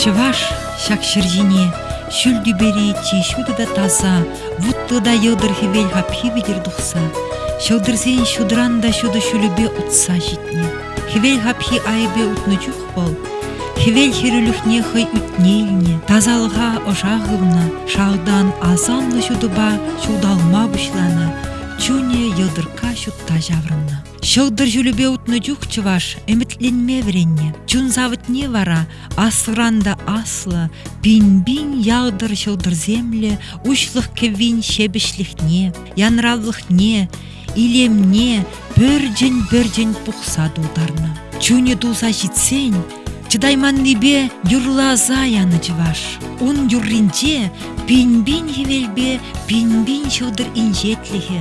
Чӑваш ҫак ҫӗр ҫине ҫӳл тӳпери чи ҫутӑ та таса, вутлӑ та йӑлтӑр хӗвел хапхи витӗр тухса, ҫӑлтӑрсен ҫутран та ҫутӑ ҫулӗпе утса ҫитнӗ. Хӗвел хапхи айӑпӗ утнӑ чух вӑл хӗвел хӗрӳлӗхне хӑй ӳтне илнӗ, тасалӑха ӑша хывнӑ, шалтан асамлӑ ҫутӑпа ҫуталма пуҫланӑ, чунӗ йӑлтӑркка ҫутта ҫаврӑннӑ. Ҫӑлтӑр ҫулӗпе утнӑ чух чӑваш ӗмӗтленме вӗреннӗ. Чун савӑтне вара асран та аслӑ пин-пин ялтӑр ҫӑлтӑрсемлӗ уҫлӑх кӗввин ҫепӗҫлӗхне, янравлӑхне, илемне пӗрчӗн-пӗрчӗн пухса тултарнӑ. Чунӗ туса ҫитсен Чӑтайманнипе юрласа янӑ чӑваш. Ун юрринче пин-пин хӗвелпе пин-пин ҫӑлтӑр инҫетлӗхӗ.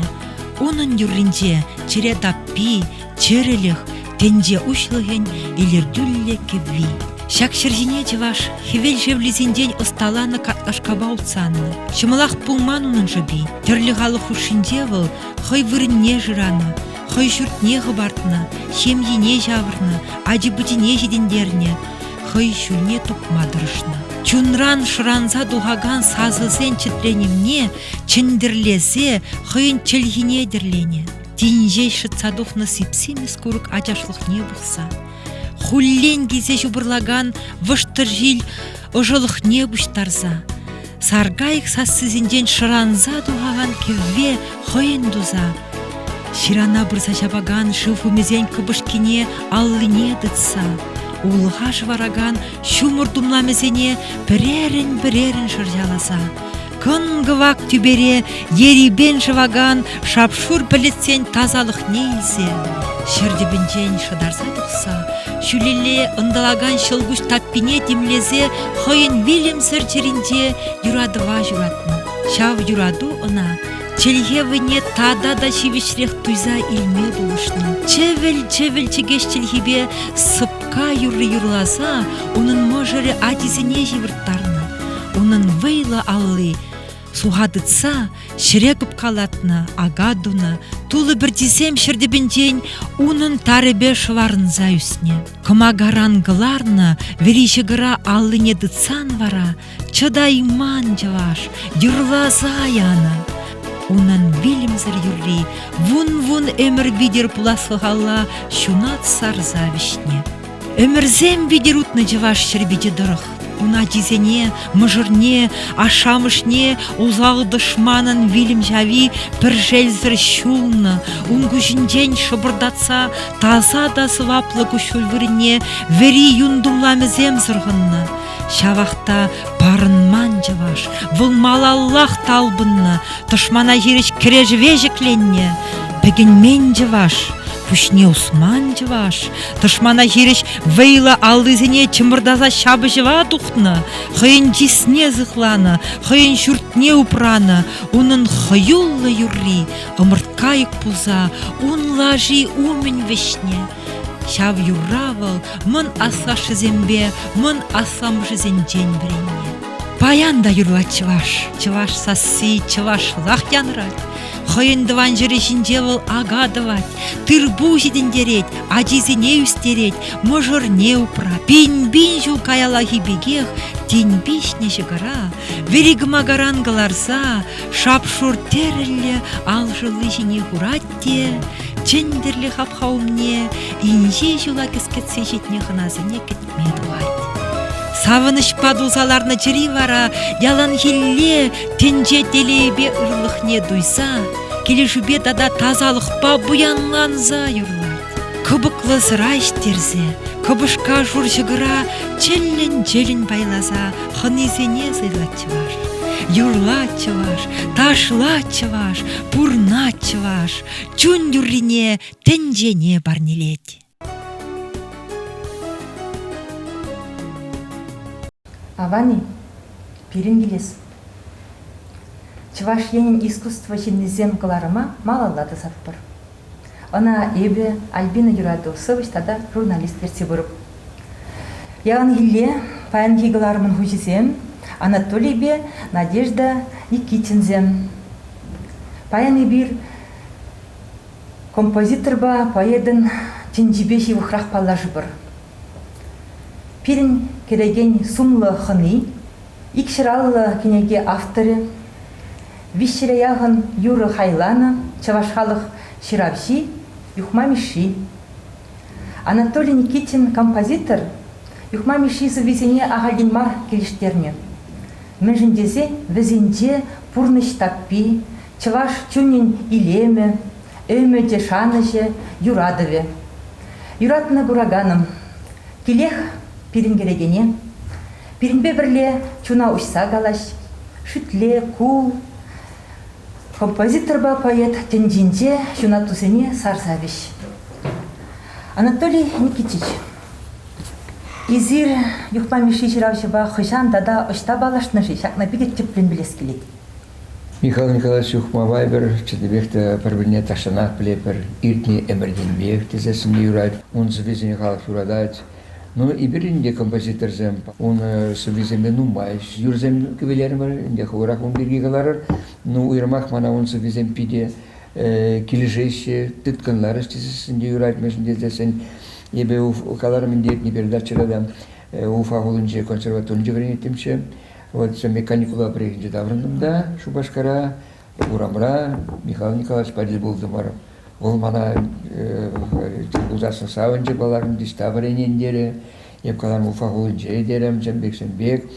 Унӑн юрринче чӗре таппи, чӗрӗлӗх, тӗнче уҫлӑхӗн илӗртӳллӗ кӗвви. Ҫак ҫӗр ҫине чӑваш хӗвел шевлисенчен ӑсталанӑ картлашкапа утсаннӑ. Ҫӑмӑлах пулман унӑн шӑпи. Тӗрлӗ халӑх хушшинче вӑл хӑй вырӑнне шыранӑ. хӑй ҫуртне хӑпартнӑ, ҫемйине ҫавӑрнӑ, ачи-пӑчине ҫитӗнтернӗ, хӑй ҫулне тупма тӑрӑшнӑ. Чунран шӑранса тухакан сасӑсен чӗтренӗвне чӗнтӗрлесе хӑйӗн чӗлхине тӗрленӗ. Тин ҫеҫ шӑтса тухнӑ сип-симӗс курӑк ачашлӑхне пухса хуллен килсе ҫупӑрлакан вӑштӑрҫил ӑшӑлӑхне пуҫтарса саркайӑк сассисенчен шӑранса тухакан кӗвве хӑйӗн туса ҫырана пырса ҫапакан шыв хумисен кӑпӑшкине аллине тытса улӑха шӑваракан ҫумӑр тумламӗсене пӗрерӗн-пӗрерӗн шӑрҫаласа кӑн-кӑвак тӳпере ерипен шӑвакан шап-шур пӗлӗтсен тасалӑхне илсе ҫӗр тӗпӗнчен шӑтарса тухса ҫӳлелле ӑнтӑлакан ҫӑлкуҫ таппине тимлесе хӑйӗн вилӗмсӗр чӗринче юратӑва ҫуратнӑ. Ҫав юрату ӑна чӗлхе вӑйне тата та ҫивӗчрех туйса илме пулӑшнӑ. Чӗвӗл-чӗвӗл чӗкеҫ чӗлхипе сӑпка юрри юрласа унӑн мӑшӑрӗ ачисене ҫывӑрттарнӑ. Унӑн вӑйлӑ алли суха тытса ҫӗре кӑпкалатнӑ ака тунӑ, тулӑ пӗрчисем ҫӗр тӗпӗнчен унӑн тарӗпе шӑварӑнса ӳснӗ. Кӑмакаран кӑларнӑ вӗри ҫӑкӑра аллине тытсан вара чӑтайман чӑваш юрласа янӑ. Унӑн вилӗмсӗр юрри вун-вун ӗмӗр витӗр пуласлӑхалла ҫунат сарса вӗҫнӗ. Ӗмӗрсем витӗр утнӑ чӑваш ҫӗрпичӗ тӑрӑх. Ун ачисене, мӑшӑрне, ашшӗ-амӑшне усал тӑшманӑн вилӗм ҫави пӗр шелсӗр ҫулнӑ, ун куҫӗнчен шӑпӑртатса таса та сӑваплӑ куҫҫуль вырӑнне вӗри юн тумламӗсем сӑрхӑннӑ. Ҫавах та парӑнман чӑваш. Вӑл малаллах талпӑннӑ, тӑшмана хирӗҫ кӗрешӗве ҫӗкленнӗ. Пӗкӗнмен чӑваш, пуҫне усман чӑваш, тӑшмана хирӗҫ вӑйлӑ аллисене чӑмӑртаса ҫапӑҫӑва тухнӑ, хӑйӗн чысне сыхланӑ, хӑйӗн ҫуртне упранӑ, унӑн хӑюллӑ юрри ӑмӑрткайӑк пулса ун лаши умӗн вӗҫнӗ. Ҫав юрра вӑл мӑн аслашшӗсемпе мӑн асламӑшӗсенчен вӗреннӗ. Паян та юрлать чӑваш. Чӑваш сасси чӑвашлах янрать. Хӑйӗн тӑван ҫӗрӗ ҫинче вӑл ака тӑвать, тырпул ҫитӗнтерет, ачисене ӳстерет, мӑшӑрне упра. Пин-пин ҫул каяллахи пекех тин пиҫнӗ ҫӑкӑра, вӗри кӑмакаран кӑларса, шап-шур тӗрӗллӗ ал шӑлли ҫине хурать те чӗнтӗрлӗ хапха умне инҫе ҫула кӗскетсе ҫитнӗ хӑнасене кӗтме пулать. Савӑнӑҫпа тулса ларнӑ чӗри вара яланхилле тӗнче телейӗпе ырлӑхне туйса, килӗшӳпе тата тасалӑхпа пуянланса юрлать. Кӑпӑклӑ сӑра ӗҫтерсе, кӑпӑшка шур ҫӑкӑра чӗллӗн-чӗллӗн пайласа хӑнисене сӑйлать чӑваш. Юрлать чӑваш, ташлать чӑваш, пурнать чӑваш, чун юррине тӗнчене парнелет. Авани, пирӗн килес. Чӑваш Енӗн искусство ҫыннисем кӑларӑма малалла тӑсатпӑр. Ӑна эпӗ, Альбина юрату, сӑвӑҫ тата журналист ертсе пырӑп. Яланхилле паянхи кӑларӑмӑн хуҫисем Анатолийпе Надежда Никитинсем. Паян эпир композиторпа поэтӑн тӗнчипе ҫывӑхрах паллашӑпӑр. Пирӗн кӗрекен сумлӑ хӑни Икҫӗраллӑ кӗнеке авторӗ, виҫҫӗре яхӑн юрӑ хайланӑ чӑваш халӑх ҫыравҫи Юхма Мишши. Анатолий Никитин композитор Юхма Мишши сӑввисене ахальтен мар килӗштернӗ. Мӗншӗн тесен вӗсенче пурнӑҫ таппи, чӑваш чунӗн илемӗ, ӗмӗчӗ, шанӑҫӗ, юратӑвӗ. Юратнӑ кураканӑм, килех пирӗн кӗрекене Пирӗнпе пӗрле чуна уҫса калаҫ, шӳтле, кул. Композиторпа поэт тӗнчинче ҫунаттусене сарса вӗҫ. Анатолий Никитич, эсир Юхма Мишши ҫыравҫӑпа хӑҫан тата ӑҫта паллашнӑ-ши? Ҫакна питӗ тӗплӗн пӗлес килет. Михаил Николаевич Юхмапа эпир чӑннипех те пӗр-пӗрне тахҫанах пӗлетпӗр. Иртнӗ ӗмӗртенпех тесе сӗнме юрать. Ун сӑввисене халӑх юратать. Ну, эпир ӗнтӗ композиторсем ун сӑввисемпе нумай юрсем кӗвӗлерӗмӗр, ӗнтӗ хӑвӑрах ун пирки каларӑр. Ну, уйрӑмах мана ун сӑввисем питӗ килӗшеҫҫӗ, тыткӑнларӗҫ тесессӗн те юрать, мӗншӗн тесессӗн эпӗ каларӑм ӗнтӗ иртнӗ передачӑра та Уфа хулинче консерваторинче вӗренеттӗмччӗ. Вот меканикула приехали таврӑнтӑм та Шупашкара. урамра Михаил Николаевичпа тӗл пултӑмӑр. Вӑл мана тӗл пулсассӑн савӑнчӗ каларӑм, диста вӗренен терӗ. Эп калам Уфа хулинче терӗм, чӗнпек-чӗнпек,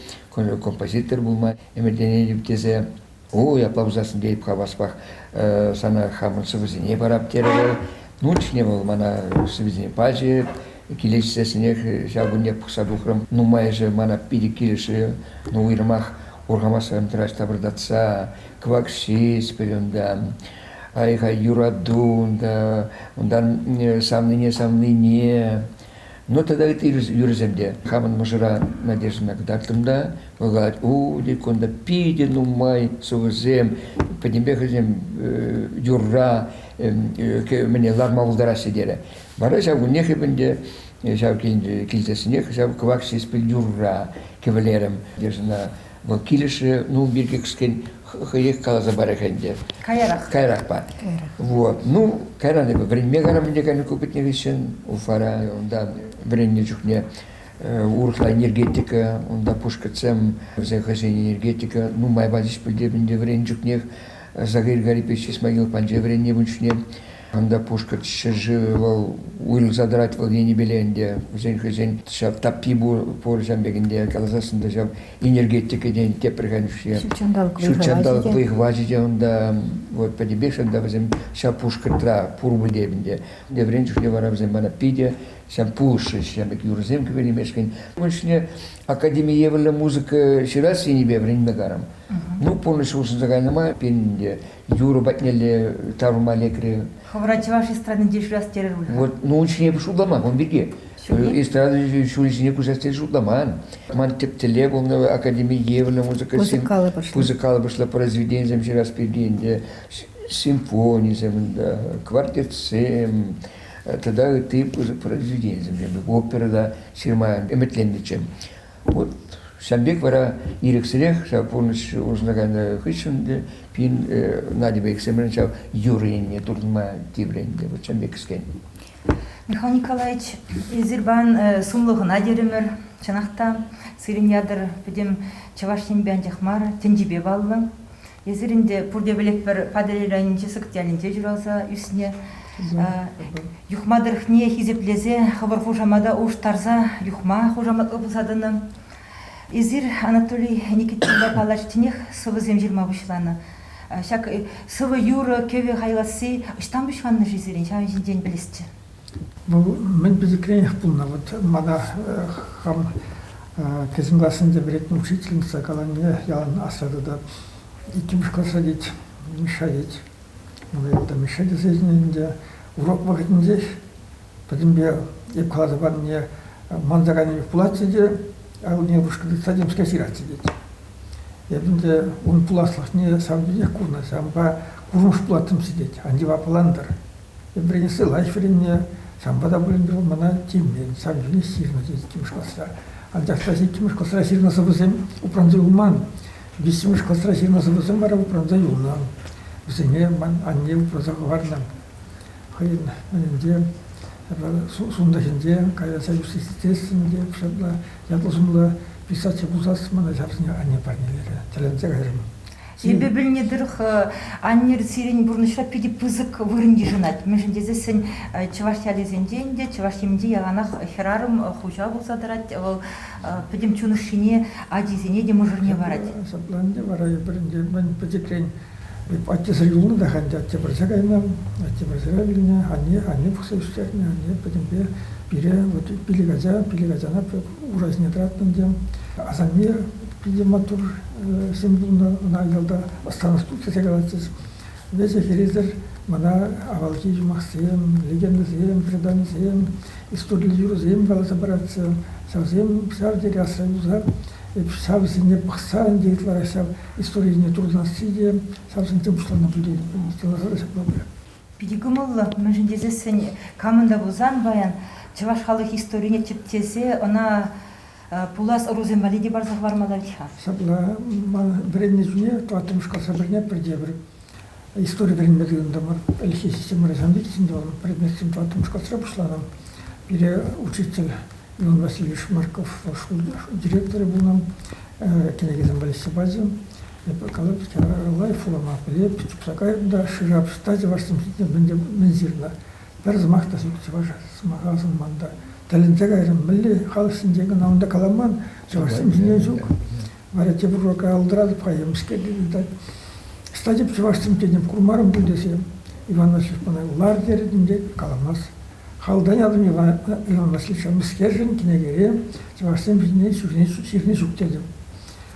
композитор пулма ӗмӗтленетӗп тесе. Ой, апла пулсассӑн тейӗп хаваспах сана хамӑн сӑвӑсене парап терӗ вӑл. Ну, чухне вӑл мана сӑвӑсене пачӗ. Килӗшсессӗнех ҫав кунне пӑхса тухрӑм. Нумайӑшӗ мана питӗ килӗшрӗ. Ну, уйрӑмах хурхамасем тӑраҫ тапӑртатса, кӑвакшиц пӗр унтан, ай-ха юрату унта, унтан савнине савнине. Ну тата ытти юрӑсем те. Хамӑн мӑшӑра Надеждӑна кӑтартрӑм та вӑл калать, у, тек кунта питӗ нумай сувӑсем, пӗтӗмпех вӗсем юрра мӗне ларма пултараҫҫӗ терӗ. Вара ҫав куннех эп ӗнтӗ Ҫав тенӗ килсессӗнех ҫав кӑвак ҫеҫпӗл юрра кӗвӗлерӗм. Ӑна вӑл килӗшрӗ, ну, пирки кӗскен хӑех каласа парах ӗнтӗ. Каярах. Каярахпа. Вот. Ну, кайран эпӗ вӗренме кайрам ӗнтӗ кайнӑ ку пӗтнӗ хыҫҫӑн Уфара. Унта вӗреннӗ чухне урӑхла энергетика, унта пушкӑртсем вӗсен хӑйсен энергетика нумай пачӗҫ пӗлтер ӗнтӗ вӗреннӗ чухнех. Загир Гарипович Исмагилов панче вӗреннӗ ун чухне. Кунта пушкӑрт ҫӗршывӗ вӑл уйрӑлса тӑрать вӑл енӗпеле ӗнтӗ. Вӗсен хӑйсен ҫав таппи пур, пур ҫав пекӗнде каласассӑн та ҫав энергетикӑсен тепреханшӗ. Ҫут ҫанталӑк вӑй-хӑвачӗ те. ҫутҫанталӑк вӑй-хӑвачӗ те унта вот пӗтӗпех ҫавӑнта вӗсем ҫав пушкӑртра пурпӗ те ӗнтӗ. Вӗрен чухне вара вӗсем мана питӗ ҫав пулӑшрӗҫ ҫав пек юрӑсем кӳренемешкӗн. Ун ҫине академи евӗрлӗ музыка ҫырас енӗпе вӗренме карам. Ну, пурнӑҫ улшӑнса кайнӑ май пирӗн те Юрӑ патнелле таврӑнма лекрӗ. Хӑвӑра чӑваш эстрадинче шырас терӗр пуль Вот, ну ун ҫине шутламан ун пирки. Эстрада ҫулӗ ҫине куҫас тесе шутламан. Ман тӗп тӗллев улна академи евӗрлӗ музыкӑсем музыкаллӑ произведенисем ҫырас пирки ӗнтӗ симфонисем ӗнтӗ, квартетсем тата ытти произведенисем, опера та ҫырма ӗмӗтленнӗччӗ. Вот ҫавӑн пек вара ирӗксӗрех ҫав пурнӑҫ улшӑнса кайнӑ хыҫҫӑн те пин Надьӑпа иксӗмӗрӗн ҫав юрӑ енне туртӑнма тиврӗ ӗнтӗ. Вот ҫавӑн пек кӗскен. Михаил Николаевич, эсир пан сумлӑ хӑна терӗмӗр. Чӑнах та, сирӗн ятӑр пӗтӗм Чӑваш Енпе анчах мар, тӗнчипе паллӑ. Эсир ӗнтӗ пурте пӗлетпӗр Патӑрьел районӗнчи Сӑкӑт ялӗнче ҫуралса ӳснӗ. Юхма тӑрӑхне хисеплесе хӑвӑр хушамата улӑштарса юхма хушамат ывӑлса тӑнӑ. Эсир, Анатолий Никитинпа калаҫтинех сӑвӑсем ҫырма пуҫланӑ. Ҫак сӑвӑ юрӑ кӗвӗ хайласси ӑҫтан пуҫланнӑ-ши сирӗн? Ҫавӑн ҫинчен пӗлесчӗ. Вӑл мӗн пӗчӗкренех пулнӑ. Вӑт мана хам кӗҫӗн классенче вӗрентнӗ учительница каланине ялан асра тытать. Иккӗмӗш класра, тет, Миша, тет. Мана ялта Миша тесе чӗннӗ ӗнтӗ. Урок вӑхӑтӗнчех пӗтӗмпе эп каласа панине манаканӗ пулатчӗ те, ывӑлне упӑшка тытса темскер ҫыратчӗ, тет. Эп ӗнтӗ ун пуласлӑхне ҫавӑн пекех курнӑ. Ҫавӑнпа курмӑш пулаттӑм-ши, тет. Ан яваплантӑр. Вӗренессе лайӑх вӗреннӗ, санпа та пулин те вӑл мана тимлет, сан ҫине ҫырнӑ тет иккӗмӗш класра. Анчах та иккӗмӗш класра ҫырнӑ сӑвӑсем упранса юлман. Виҫҫӗмӗш класра ҫырнӑ сӑвӑсем вара упранса юлнӑ. Вӗсене ман анне упраса хӑварнӑ. Хӑйӗн ӗненде сунтӑхӗнче каяса ӳстерсен те ҫапла ятлӑ-сумлӑ писатель пулсас мана ҫавсене анне парнелерӗ, тӗлӗнсе кайрӑм. Эпӗ пӗлнӗ тӑрӑх, аннер сирӗн пурнӑҫра питӗ пысӑк вырӑн йышӑнать. Мӗншӗн тесессӗн чӑваш ялӗсенче ӗнтӗ, чӑваш Енӗнче яланах хӗрарӑм хуҫа пулса тӑрать. Вӑл пӗтӗм чун ӑшшине, ачисене те мӑшӑрне парать. Ҫапла ӗнтӗ вара эпир ӗнтӗ мӗн пӗчӗкрен аттесӗр юлнӑ та ӗнтӗ атте пӗрсе кайнӑ, атте пӗрсе вилнӗ, анне анне пӑхса ӳстернӗ, анне пӗтӗмпе пире вот пилӗк ача, пилӗк ачана уразне тӑраттӑм те. Асанне питӗ маттур ҫын пулнӑ, ӑна ялта старостут тесе калатчӗҫ. Веҫӗ хӗресӗр мана авалхи юмахсем, легендӑсем, преданисем, историллӗ юрӑсем каласа паратчӗ. Ҫавсем ҫав тери асра юлса, ҫавсене пӑхса ӗнтӗ ытларах ҫав историне туртасси те ҫавсенчен пуҫланнӑ пулин ҫапла пырать. Питӗ кӑмӑллӑ, мӗншӗн тесессӗн камӑн та пулсан паян чӑваш халӑх историне тӗпчесе ӑна пулас ӑрусем валли те парса хӑварма пулать-ха. Ҫапла, ман вӗреннӗ чухне тӑваттӑмӗш класс пӗрне пӗрте пӗр истори вӗренме тытӑнтӑмӑр. Ӗлӗкхи системӑра санвичсен тӑван предметсем тӑваттӑмӗш класра пуҫланӑ. Пире учитель Иван Васильевич Марков шкул директорӗ пулнӑ, кӗнекесем валеҫсе пачӗ. Эпӗ калӑп, лайӑхлама пӗлеп, тытса кайрӑм та шӑрҫа-пӑшта чӑвашсем ҫинчен мӗн ҫырнӑ. Пӗр сӑмах та ҫук чӑваша сӑмаха асӑнман та. Тӗлӗнсе кайрӑм, мӗнле халӑх ҫинчен кӑна унта каламан, чӑвашсем ҫинчен ҫук. Вара тепӗр урока алдӑратӑп-ха, емӗскер тытать. Статья чӑвашсем тетӗм, курмарӑм пуль тесем, Иван Васильевич мана лар терӗ тет, каламасть. Халтанятӑм Иван Васильевича мӗскершӗн, кӗнекере чӑвашсем ҫине ҫырни ҫук тетӗм.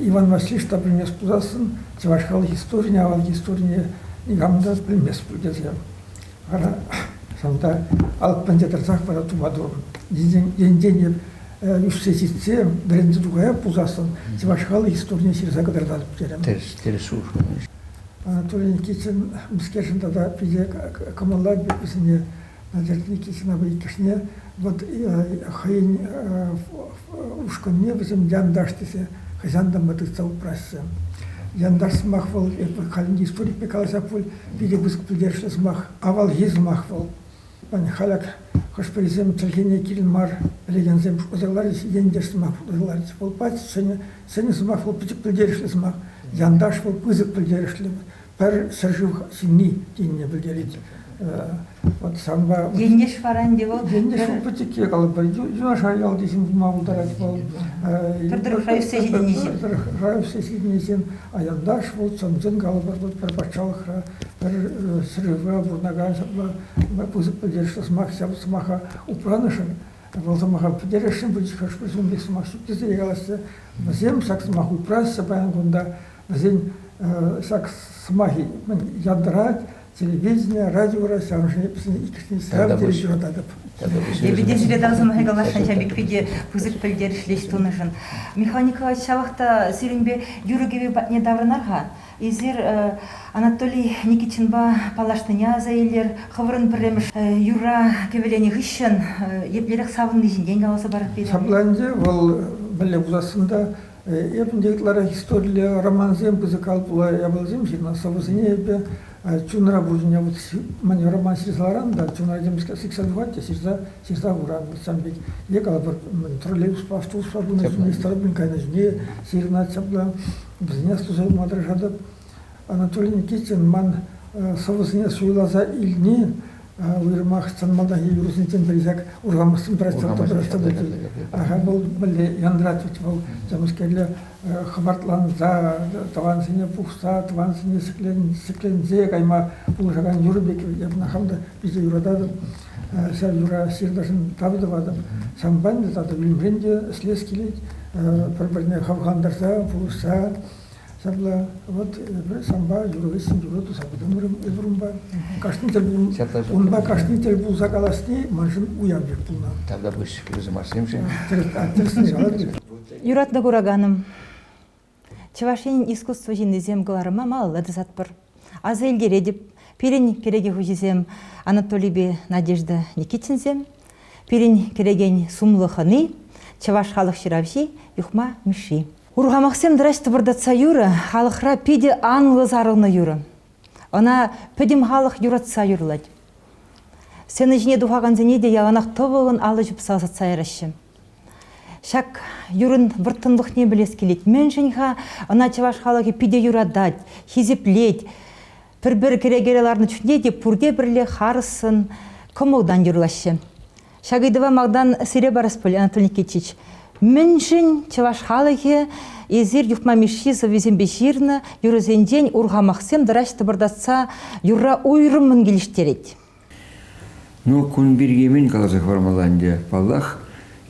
Иван Васильевич та пӗлмест пулассӑн чӑваш халӑх историне, авалхи историне никам та пӗлмест пуль тесе. Вара ҫавӑнта алӑкпенче тӑрсах вара тума турӑм. Енчен ӳссе ҫитсе вӗренсе тухая пулсассӑн чӑваш халӑх историне ҫырса кӑтартатӑп терӗм. Тӗрӗс, тӗрӗс улшӑнӑҫ. Анатолий Никитин мӗскершӗн тата питӗ кӑмӑллать вӗсене Диалектики сӑнавӗ иккӗшне вӑт хӑйӗн ушкӑнне вӗсем янташ тесе хӑҫан та май тытса упраҫҫӗ. Янташ сӑмах вӑл, эпӗ халӗн историкпе каласа пуль, питӗ пысӑк пӗлтерӗшлӗ сӑмах, авалхи сӑмах вӑл. Халӗ хӑш-пӗрисем чӗлхене кирӗн мар пӗлекенсем шутласа кӑларӗҫ, ентеш сӑмах шутласа кӑларӗҫ. Вӑл пач ҫӗнӗ, ҫӗнӗ сӑмах вӑл пӗчӗк пӗлтерӗшлӗ сӑмах. Янташ вӑл пысӑк пӗлтерӗшлӗ пӗр ҫӗршыв ҫынни тенине пӗлтерет. Вот санпа... Ентеш вара ӗнтӗ вӑл. Ентеш вӑл пӗчӗкке калӑпӑр. Юнашар ялти ҫын пулма пултарать вӑл. Пӗр тӑрӑхра ӳссе ҫитӗнеҫҫӗ. Пӗр тӑрӑхра ӳссе ҫитӗнеҫҫӗ. Аянташ вӑл чӑн-чӑн калӑпӑр пӗр патшалӑхра, пӗр ҫӗршывра пурӑнакан ҫапла пысӑк пӗлтерӗшлӗ сӑмах ҫав сӑмаха упранӑшӑн вӑл сӑмаха пӗтересшӗн пулчӗ хӑш-пӗр ҫын пек сӑмах ҫук тесе калаҫҫӗ. Вӗсем ҫак сӑмах упраҫҫӗ паян кунта. Вӗсен ҫак сӑмахӗ мӗн янтарать, телевидение, радиора ҫав иккӗшне ҫав тери юрататӑп. Эпӗ те сире тав сӑмахӗ каласшӑн, ҫав пек питӗ пысӑк пӗлтерӗшлӗ ӗҫ тунӑшӑн. Михаил Николаевич, ҫавах та сирӗнпе юрӑ-кӗвӗ патне таврӑнар-ха. Эсир Анатолий Никитинпа паллашнине аса илер. Хӑвӑрӑн пӗрремӗш юрра кӗвӗленӗ хыҫҫӑн еплерех савӑнни ҫинчен каласа парӑр пире. Ҫапла ӗнтӗ, вӑл мӗнле пулассӑн та Эп ӗнтӗ ытларах историлле романсем пысӑкал пула япаласем ҫынна сӑвӑсене эпӗ чунра пурҫӑне вот мане роман ҫырсаларан та чунра темскер сиксе тухать те ҫырса хуран вот ҫавӑн пек е калӑпӑр троллейбуспа автобуспа пынӑ ҫине стройпин кайнӑ ҫине ҫырӑнать ҫапла вӗсене астуса юлма тӑрӑшатӑп. Анатолий Никитин ман сӑвӑсене суйласа илни уйрӑмах чӑн малтанхи юрӑсенчен пӗри ҫак урхамахсен Аха, вӑл мӗнле янратать вӑл темскерле хӑпартланса, тӑвансене пухса, тӑвансене ҫӗкленсе кайма пулӑшакан юрӑ пек эпӗ хам та питӗ юрататӑп. Ҫав юра ҫырташӑн тав тӑватӑп. Санпа ӗнтӗ тата вилӗмрен те ӗҫлес килет. Пӗр-пӗрне хавхантарса, пулӑшса Ҫапла, вот эпӗ санпа юр хыҫҫӑн юрӑ туса пытӑмӑрӑм эс урӑмпа. Кашни тӗл унпа кашни тӗл пулса каласни маншӑн уяв пек пулнӑ. Тавта пуҫ кирзымашсемшӗн. Юратнӑ кураканӑм, Чӑваш Енӗн искусство ҫыннисем кӑларӑма малалла тӑсатпӑр. Аса илтеретӗп, пирӗн кӗреке хуҫисем Анатолийпе Надежда Никитинсем, пирӗн кӗрекен сумлӑ хӑни, чӑваш халӑх ҫыравҫи Юхма Мишши. Урхамахсем тӑраҫ тӑпӑртатса юрӑ халӑхра питӗ анлӑ сарӑлнӑ юрӑ. Ӑна пӗтӗм халӑх юратса юрлать. Сцена ҫине тухакансене те яланах тӑвӑллӑн алӑ ҫупса ӑсатса яраҫҫӗ. Ҫак юрӑн вӑрттӑнлӑхне пӗлес килет. Мӗншӗн-ха ӑна чӑваш халӑхӗ питӗ юратать, хисеплет. Пӗр-пӗр кӗрекере ларнӑ чухне те пурте пӗрле харӑссӑн, кӑмӑлтан юрлаҫҫӗ. Ҫак ыйтӑва малтан сире парас пулӗ, Анатолий Никитич. Мӗншӗн чӑваш халӑхӗ эсир Юхма Мишши сӑввисемпе ҫырнӑ юрӑсенчен урхамахсем тӑраҫ тӑпӑртатса юрра уйрӑммӑн килӗштерет? Ну, кун пирки мӗн каласа хӑвармалла ӗнтӗ. Паллах,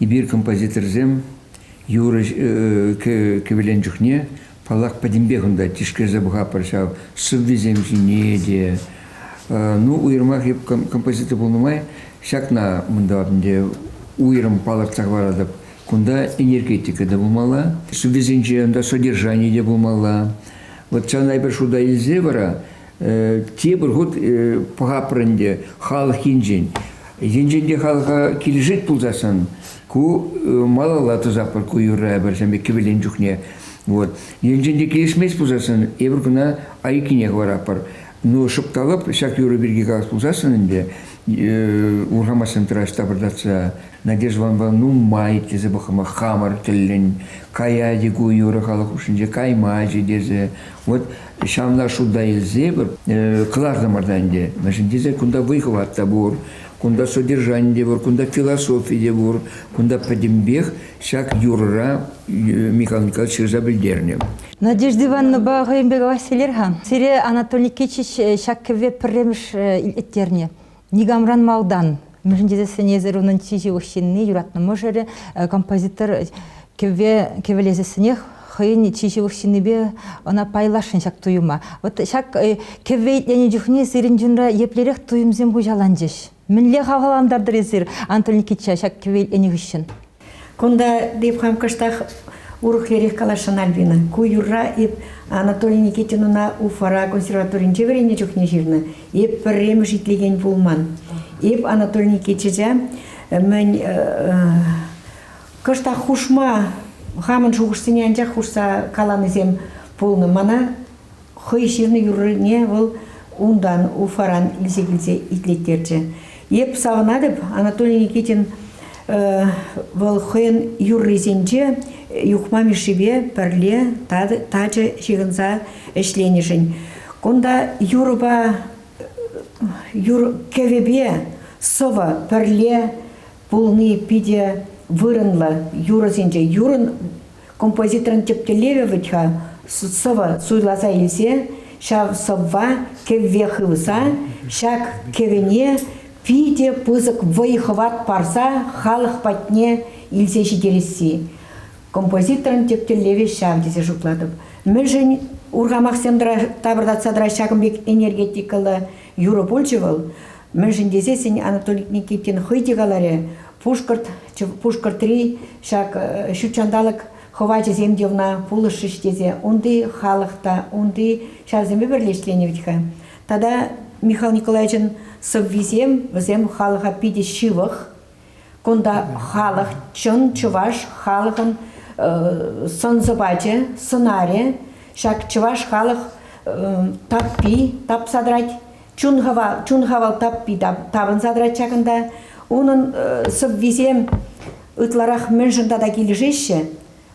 эпир композиторсем юрӑ кӗвӗлен чухне, паллах, пӗтӗмпех унта тишкерсе пӑхатпӑр ҫав сӑввисем ҫине те. Ну, уйрӑмах эп композитор пулнӑ май ҫакна мӑнтав ӗнтӗ уйрӑм палӑртса хӑваратӑп. Кунта энергетика та пулмалла, сӑввисенче ӑнта содержани те пулмалла. Вот ҫавна эпир шута илсе вара тепӗр хут пӑхаппӑр ӗнтӗ халӑх енчен. Енчен те халӑха килӗшет пулсассӑн ку малалла тӑсатпӑр ку юрра пӗрсемпе кӗвӗлен чухне. Вот. Енчен те килӗшмест пулсассӑн эпир кӑна айккине хӑваратпӑр. Ну, шӑпталӑп ҫак юрӑ пирки калас пулсассӑн ӗнтӗ урхамасем тӑраҫ тапӑртатса Надеждӑланпа нумай тесе пӑхӑма хамӑр тӗллӗн каять-и ку юрӑ халӑх хушшинче каймаҫӗ тесе. Вот Ҫавна шута илсепӗр кӑлартӑмӑр та ӗнтӗ. Мӗншӗн тесен кунта вӑй-хӑват та пур, кунта содержани те пур, кунта философи те пур. Кунта пӗтӗмпех ҫак юрӑра Михаил Николаевич ҫырса пӗлтернӗ. Надежда Ивановнӑпа хӑйӗн пек Василер-ха. Сире Анатолий Никитич ҫак кӗвве пӗрремӗш илеттернӗ. Никамран малтан, мӗншӗн тесен сӗнесӗр унӑн чи ҫывӑх ҫынни, юратнӑ мӑшӑрӗ, композитор кӗве кӗвӗлесессӗнех хӑйӗн чи ҫывӑх ҫыннипе ӑна пайласшӑн ҫак туйӑма. Вот ҫак кӗвве итленӗ чухне сирӗн чунра еплерех туйӑмсем хуҫаланчӗҫ? Мӗнле хавхалантартӑр эсир, Антон Никитича, ҫак кӗве итленӗ хыҫҫӑн? Кунта эп хам кӑштах урӑхлерех каласшӑн, Альбина. Ку юрра эп Анатолий Никитинуна Уфара консерваторинче вӗреннӗ чухне ҫырнӑ. Эп пӗрремӗш итлекен пулман. Эп Анатолий Никитича мӗн кӑштах хушма хамӑн шухӑшсене анчах хушса каланисем пулнӑ. Мана хӑй ҫырнӑ юррине вӑл унтан Уфаран илсе килсе итлеттерчӗ. Эп савӑнатӑп, Анатолий Никитин вӑл хӑйӗн юррисенче Юхма Мишшипе пӗрле тачӑ ҫыхӑнса ӗҫленӗшӗн. Кунта юрӑпа юр кӗвӗпе сӑвӑ пӗрле пулни питӗ вырӑнлӑ. Юрӑсенче юрӑн Композиторӑн тӗп тӗллевӗ вӗт-ха сӑвӑ суйласа илсе ҫав сӑвва кӗвве хывса ҫак кӗвӗне питӗ пысӑк вӑй-хӑват парса халӑх патне илсе ҫитересси. Композиторӑн тӗп тӗллевӗ ҫав тесе шутлатӑп. Мӗншӗн урхамахсем тапӑртатса тӑрать ҫакӑн пек энергетикӑллӑ юрӑ пулчӗ вӑл? Мӗншӗн тесен Анатолий Никитин хӑй те каларӗ, Пушкӑрт, Пушкӑртри ҫак ҫутҫанталӑк хӑвачӗсем те ӑна пулӑшрӗҫ тесе унти халӑх та, унти ҫарсемпе пӗрле ӗҫленӗ вӗт-ха. Тата Михаил Николаевичӑн сӑввисем, вӗсем халӑха питӗ ҫывӑх. Кунта халӑх, чӑн чӑваш халӑхӑн сӑн-сӑпачӗ, сӑнарӗ. Ҫак чӑваш халӑх таппи тапса тӑрать. чун хавал, чун хавал таппи тапӑнса тӑрать ҫакӑнта. Унӑн э, сӑввисем ытларах мӗншӗн тата килӗшеҫҫӗ?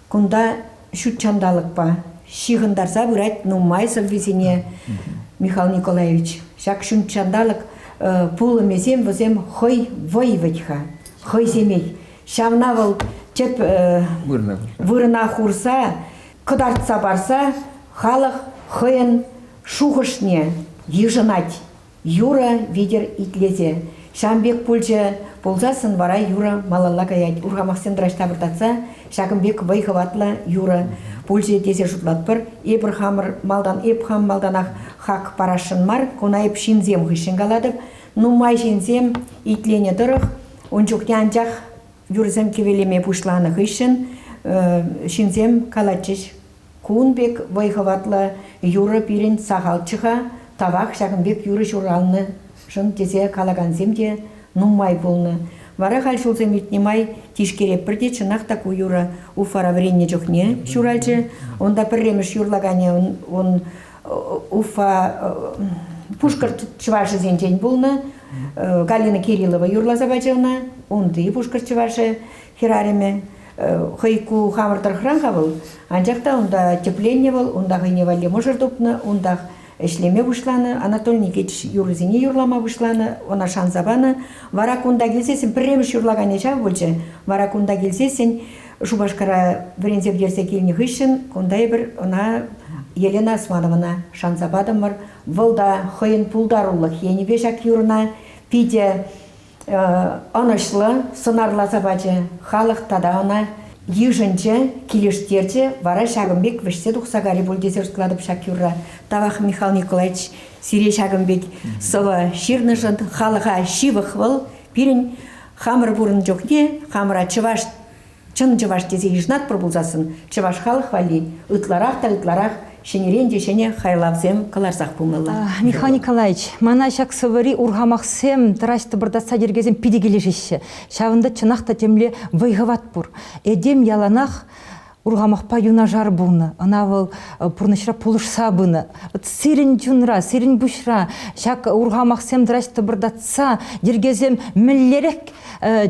Кунта ҫут ҫанталӑкпа ҫыхӑнтарса пырать нумай сӑввисене Михаил Николаевич. Ҫак ҫут ҫанталӑк э, пулӑмӗсем вӗсем хӑй вӑй вӗт-ха, хӑй семей. Ҫавна вӑл тӗп э, вырӑна хурса, кӑтартса парса халӑх хӑйӗн Шухӑшне йышӑнать Юра витӗр итлесе. Ҫавӑн пек пулчӗ пулсассӑн вара Юра малалла каять. Урхамахсем тӑраҫ тавӑртатса ҫакӑн пек вӑй-хӑватлӑ Юра пулчӗ тесе шутлатпӑр. Эпир хамӑр малтан эп хам малтанах хак парасшӑн мар, куна эп ҫынсем хыҫҫӑн калатӑп. Нумай ҫынсем итленӗ тӑрӑх ун чухне анчах юрӑсем кӗвелеме пуҫланӑ хыҫҫӑн ҫынсем калатчӗҫ Кун пек вӑй-хӑватлӑ юрӑ пирӗн сахалччӗ-ха, тавах ҫакӑн пек юрӑ ҫуралнӑшӑн тесе калакансем те нумай пулнӑ. Вара халь ҫулсем иртнӗ май Тишкереппӗр те чӑнах та ку юрӑ Уфара вӗреннӗ чухне ҫуралчӗ. Унта пӗрремӗш юрлаканӗ ун Уфа Пушкӑрт чӑвашӗсенчен пулнӑ. Галина Кириллова юрласа пачӗ ӑна. Унти пушкӑрт чӑвашӗ Хӗрарӑмӗ хӑй ку хамӑр тӑрӑхран-ха вӑл, анчах та унта тӗпленнӗ вӑл, унта хӑйне валли мӑшӑр тупнӑ, унтах ӗҫлеме пуҫланӑ, анатольникеч юррисене юрлама пуҫланӑ, ӑна шанса панӑ. Вара кунта килсессӗн пӗрремӗш юрлаканӗ ҫав пулчӗ. Вара кунта килсессӗн Шупашкара вӗренсе пӗтерсе килнӗ хыҫҫӑн кунта эпир ӑна Елена Османована шанса патӑмӑр. Вӑл та хӑйӗн пултарулӑх енӗпе ҫак юрӑна питӗ ӑнӑҫлӑ сӑнарласа пачӗ халӑх тата ӑна йышӑнчӗ, килӗштерчӗ. Вара ҫакӑн пек вӗҫсе тухса кари пуль тесе шутлатӑп ҫак юрра. Тавах, Михаил Николаевич, сире ҫакӑн пек сӑвӑ ҫырнӑшӑн. Халӑха ҫывӑх вӑл пирӗн хамӑр пурӑн чухне хамӑра чӑваш Чӑн чӑваш тесе йышӑнатпӑр пулсассӑн чӑваш халӑх валли ытларах та ытларах ҫӗнӗрен те ҫӗнӗ хайлавсем кӑларсах пулмалла. Михаил Николаевич, мана ҫак сӑвӑри урхамахсем, тӑраҫ-тӑпӑртатса йӗркесем питӗ килӗшеҫҫӗ. Ҫавӑнта чӑнах та темле вӑй-хӑват пур. Этем яланах урхамахпа юнашар пулнӑ, ӑна вӑл пурнӑҫра пулӑшса пынӑ. Сирӗн чунра, сирӗн пуҫра ҫак урхамахсем тӑраҫ-тӑпӑртатса йӗркесем мӗнлерех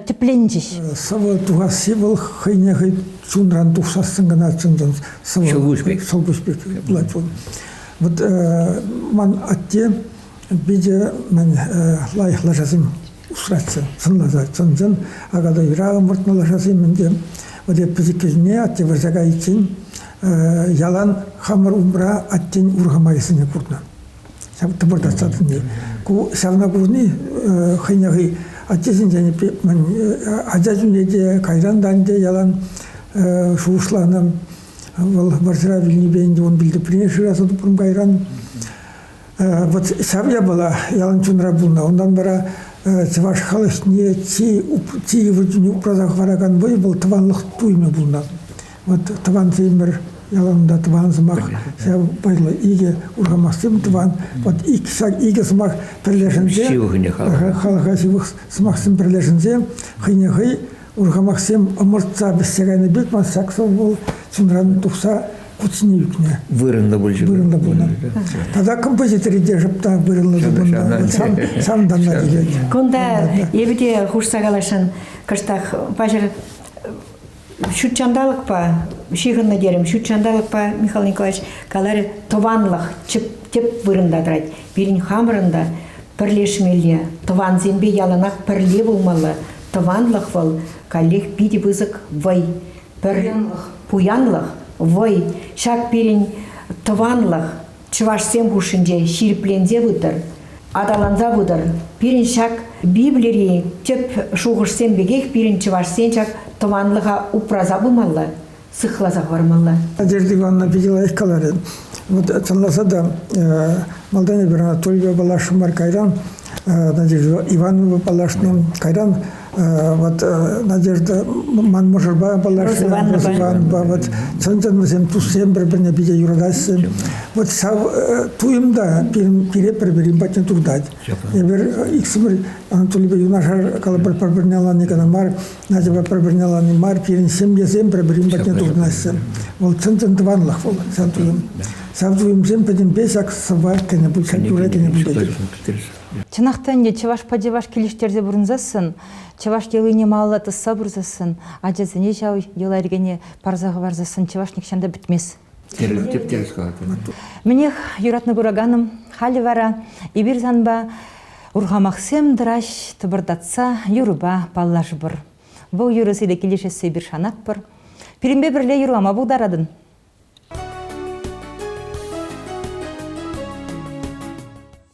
тӗпленчӗҫ. Сӑвӑ тухасси вӑл хӑйне хӑй чунран тухсассӑн кӑна чӑн-чӑн сӑвӑ. Ҫӑлкуҫ пек. Ҫӑлкуҫ пек пулать вӑл. Вот ман атте питӗ мӗн лайӑх лашасем усратчӗ, сӑнласа чӑн-чӑн аката юра ӑмӑртнӑ лашасем ӗнтӗ. Вот эп пӗчӗккӗшне атте вырса кайиччен ялан хамӑр умра аттен урхамахӗсене курнӑ. ҫав тӑпӑрта сатни. Ку ҫавна курни хӑйне хӑй аттесенчен ача чунне те, кайран та ӗнтӗ ялан шухӑшланӑ. Вӑл вӑрҫӑра вилнипе ӗнтӗ ун пилтеприне шыраса тупрӑм кайран. Вот ҫав япала ялан чунра пулнӑ. Унтан вара чӑваш халӑхне чи, чи йывӑр чухне упраса хӑваракан вӑй вӑл тӑванлӑх туйӑмӗ пулнӑ. Вот тӑван Владимир яланла тӑван сӑмах, ҫав вӑйлӑ икӗ урхамахсем тӑван. Вот икӗ, икӗ сӑмах пӗрлешенсе, халӑха ҫывӑх сӑмахсем пӗрлешенсе хӑйне хӑй урхамахсем ӑмӑртса вӗҫсе кайнӑ пек ман ҫак сӑвӑ вӑл чунран тухса куtsiне ӳкнӗ. Вырӑнлӑ пулчӗ. Вырӑнлӑ пулнӑ. Тата композитори те шӑпта вырӑнлӑ тупӑннӑ. Сан танна тӳкет. Кунта эпӗ те хушса каласшӑн. Кӑштах паҫӑр ҫут ҫанталӑкпа ҫыхӑннӑ терӗм ҫут ҫанталӑкпа Михаил Николаевич каларӗ тӑванлӑх тӗп вырӑнта тӑрать пирӗн хамӑрӑн та пӗрлешмелле тӑвансемпе яланах пӗрле пулмалла тӑванлӑх вӑл каллех питӗ пысӑк вӑй пӗр пуянлӑх вӑй ҫак пирӗн тӑванлӑх чӑвашсем хушшинче ҫирӗпленсе пытӑр, аталанса пытӑр. Пирӗн ҫак Библири тӗп шухӑшсем пекех пирӗн чӑвашсен ҫак тӑванлӑха упраса пымалла, сыхласа хӑвармалла. Надежда Ивановна питӗ лайӑх каларӗ. Вот тӑнласа та малтан эпир Анатольпа паллашрӑмӑр кайран Надежда Ивановна паллашнӑ. Кайран вот Надежда ман мӑшӑрпа паллашрӗ, Рос Иванпа. Вот чӑн-чӑн вӗсем туссем пӗр-пӗрне питӗ юратаҫҫӗ. Вот ҫав туйӑм та пире пӗр-пӗрин патне туртать. Эпир иксӗмӗр Анатолийпе юнашар калӑпӑр пӗр-пӗрне ӑнланни кӑна мар, Надьӑпа пӗр-пӗрне алани мар, пирӗн ҫемьесем пӗр-пӗрин патне туртӑнаҫҫӗ. Вӑл чӑн-чӑн тӑванлӑх вӑл, сан туйӑм. Сан туйӑмсем пӗтӗмпе ҫак сӑвва кӗнӗ пуль, ҫак юрра кӗнӗ пуль тетӗп. Чӑнах та ӗнтӗ чӑвашпа чӑваш килӗштерсе пурӑнсассӑн, чӑваш йӑлине малалла тӑсса пырсассӑн, ачасене ҫав йӑла-йӗркене парса хӑварсассӑн чӑваш нихҫан та пӗтмест. Мӗнех, юратнӑ кураканӑм, халӗ вара эпир санпа урхамахсем тӑраҫ, тӑпӑртатса юрӑпа паллашӑпӑр. Вӑл юрӑ сире килӗшессе эпир шанатпӑр. Пирӗнпе пӗрле юрлама пултаратӑн.